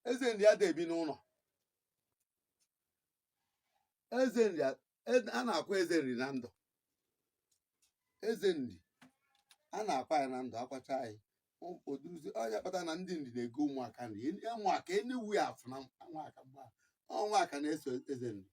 eze nri ada ebi n'ụlọ eze nri a e- a na-akwa eze nri na ndụ eze nri a na-akwa ya na ndụ akwacha ya O- oduzi ọ ya kpata na ndị nri na-ego ụmụaka nri Eni- ụmụaka enewu ya afụ na ụmụaka mgbe ụmụaka na-eso eze nri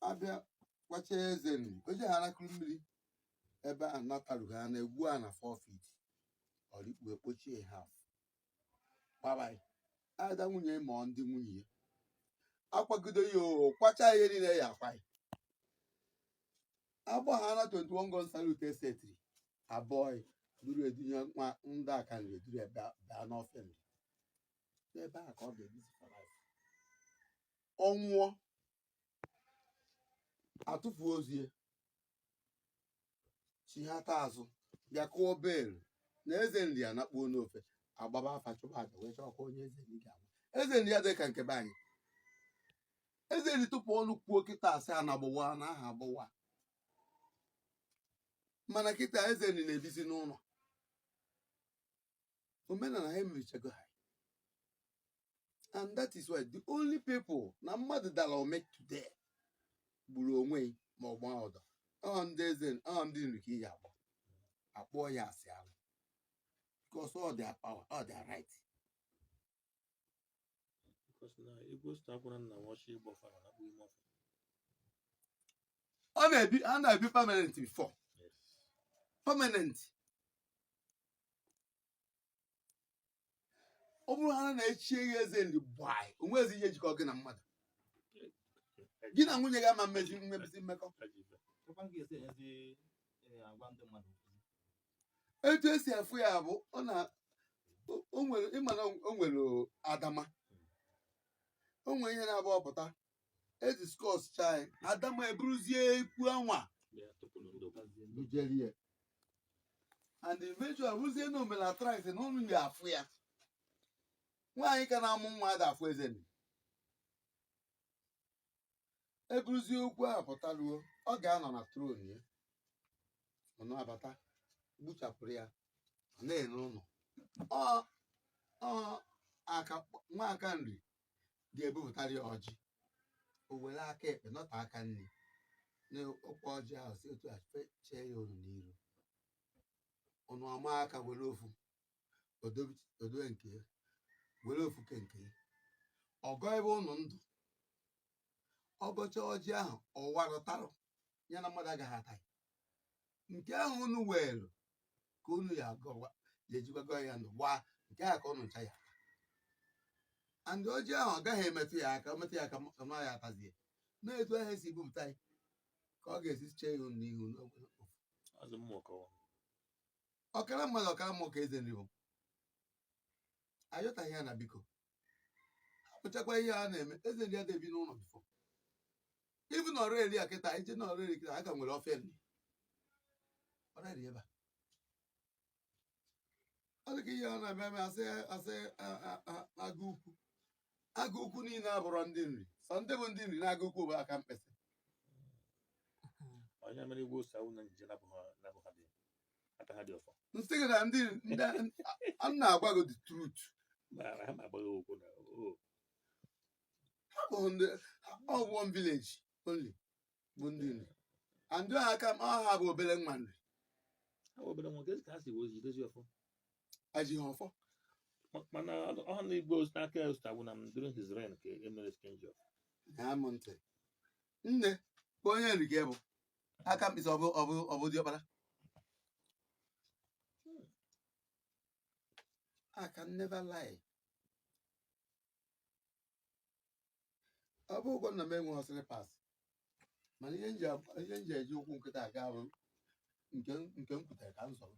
abịa kwacha eze nri oje ha arakụrụ mmiri ebe a natarughị ha na-egwu ana 4 feet ọrikpu ekpochie ha afụ babaị ada nwunye ma ndị nwunye ya akwagide ya oho kwacha ihe niile ya akwa ya agbachara 21 gun salute etcetera abịa duru ya dunye nwa ndị aka nri eduru ya bịa bịa n'ofe nri n'ebe a ka ọ ga-ebizi for life. ọ nwụọ atụfuo ozu ya chighata azụ bịa kụọ bell na eze nri anakpuo n'ofe agbaba afa chụba aja wee chọkwa onye eze nri ga-agwa eze nri ya dị ka nke be anyị eze nri tupu ọnụ kwuo kịta asị a na-agbụwa na aha agbụwa mana kịta eze nri na-ebizi n'ụlọ omenala ha emerichago ha and that is why the only people na mmadụ dara ome today gburu onwe ya ma ọ gbaa ụdọ ọ ndị eze ọ ndị nri ka ị ya-agba akpọọ ya asị alụ because all their power all their right ọ na-ebi a na-ebi permanent before permanent ọ bụrụ ha na e chie gị eze ndị be anyị o nwezi ihe jikọ gị na mmadụ gị na nwunye gị ama mmezi nwezi mmekọ etu esi afụ ya bụ ọ na o- o nwere ịma na o nwere adama o nwere ihe na-abụ ọpụta e discuss chaa ya adama eburuzie okwu anwa bujere ya and eventually ọ bụrụzie na omela thrice na ụnụ ya afụ ya nwaanyị ka na-amụ nwa ada afụ eze nri. eburuzie okwu ahụ pụta ruo ọ ga-anọ na throne ya ụnụ abata gbuchapụrụ ya ọ na-ene ụnụ ọ ọ aka nwa aka nri ga-ebupụtara ya ọjị o were aka ekpe nọta aka nri n'ọkwa ọjị ahụ si otu a fe- chee ya ụnụ n'iru ụnụ ama aka were ofu odowe nke ya were ofu ke nke ya ọ gọọ ebe unu ndụ ọ gọcha ọjị ahụ ọ wara tara ya na mmadụ agaghị ata ya nke ahụ unu weelu ka unu ya agọwa ya e jikwago ya ndụ gbaa nke a ka unu ncha ya and ọjị ahụ ọ gaghị emetụ ya aka metụ ya aka ma ya atazie na etu ahụ e si bupụta ya ka ọ ga-esi chee ya n'ihu n'ofu ọkara mmadụ ọkara mmụọ ka eze nri bụ a yọtaghị ya na biko hapụchakwa ihe a na-eme eze nri adịghị ebi n'ụlọ before even Ọraeri a kịta i jee na Ọraeri kịta a ka nwere ofe nri Ọraeri ebe a ọ dị ka ihe a na-eme eme asị asị a- a- a- agụ ukwu agụ ukwu niile abụrọ ndị nri sọ ndị bụ ndị nri na agụ ukwu bụ Akamkpịsị onye mere igwe Osita Agwuna nje na abụghị na abụghị ndị aka ha dị ọfọ m sị gị na ndị ndị a na-agwa gị the truth ma ha ma agbaghị okwu na o ha bụ ndị ọ bụ one village only bụ ndị nri and ndị aka m ha bụ obere nwa nri ha bụ obere nwa ka a si wee jidezi ọfọ ajighị ọfọ Ma- mana ọha na igbo n'aka Osita Agwuna during his reign ka e mere change of name ntị nne ka onye nri gị bụ Akamkpịsị ọ bụ ọ bụ ọ bụ diọkpara I can never lie. ọ bụ ụgwọ nna m enweghị ọsịrị pass mana ihe m ji ab- ihe m ji eji ụkwụ nkịta aga bụ nke m- nke m kwutere ka m zọrọ